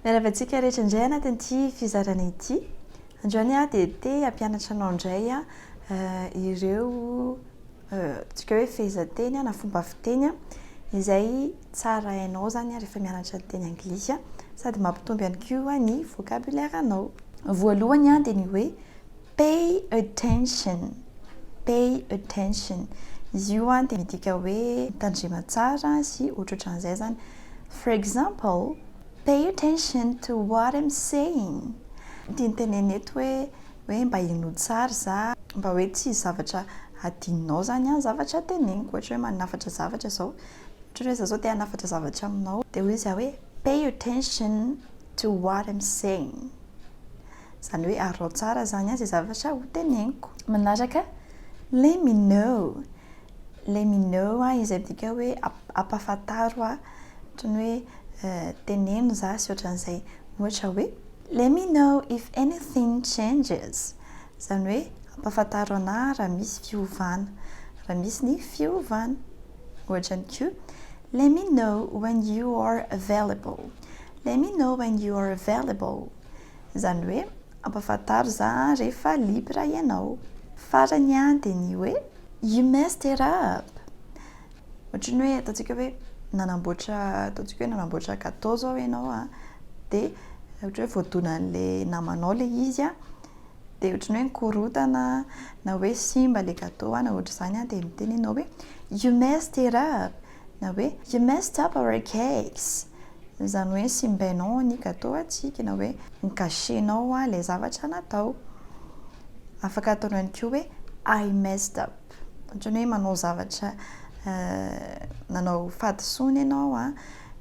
Miarahaba antsika rehetra indray anatin'ity fizarana ity. Androany aho dia te hampianatra anao indray eh, ireo eh, tsika hoe fehezanteny na fomba fiteny izay tsara hainao zany rehefa mianatra ny teny anglisy sady mampitombo ihany koa ny vocabulaire anao. Voalohany dia ny hoe Pay attention, pay attention, izy io an dia midika hoe mitandrema tsara sy ohatrohatran'izay izany. For example, Pay attention to what I'm saying, tiany tenenina eto hoe hoe mba henoy tsara za, mba hoe tsy hisy zavatra hadinonao izany an zavatra teneniko, ohatra hoe manafatra zavatra izao, ohatra hoe za zao te hanafatra zavatra aminao, dia hoy izy hoe pay attention to what I'm saying. Zany hoe arao tsara zany an ze zavatra ho teneniko. Manaraka, Let me know, Let me know ahy izay midika hoe ampafantaro ahy, ohatran'ny hoe teneno za sy ohatran'izay. Ohatra hoe, Let me know if anything changes, zany hoe ampafantaro anahy raha misy fiovana, raha misy ny fiovana. Ohatra ihany koa, Let me know when you are available, Let me know when you are available. Izany hoe ampafantaro za rehefa libre ianao. Farany dia ny hoe you messed it up! Ohatry ny hoe ataontsika hoe nanamboatra ataontsika hoe nanamboatra gateau zao ianao a, dia ohatra hoe voadonan'le namanao le izy a, dia ohatry ny hoe nikorontana na hoe simba le gateau na ohatry izany dia miteny ianao hoe you messed it up! Na hoe You messed up our cakes! Izany hoe simbainao ny gateau antsika, na hoe Ni-gâcher-nao ilay zavatra natao. Afaka atao ihany koa hoe I messed up. Ohatran'ny hoe manao zavatra nanao fahadisoana ianao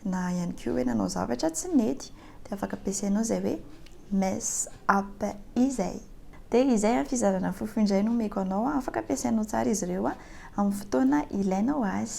na ihany koa hoe nanao zavatra tsy nety dia afaka ampiasainao izay hoe mess up izay. Dia izay ny fizarana fofo indray no omeko anao. Afaka ampiasainao tsara izy ireo amin'ny fotoana ilainao azy.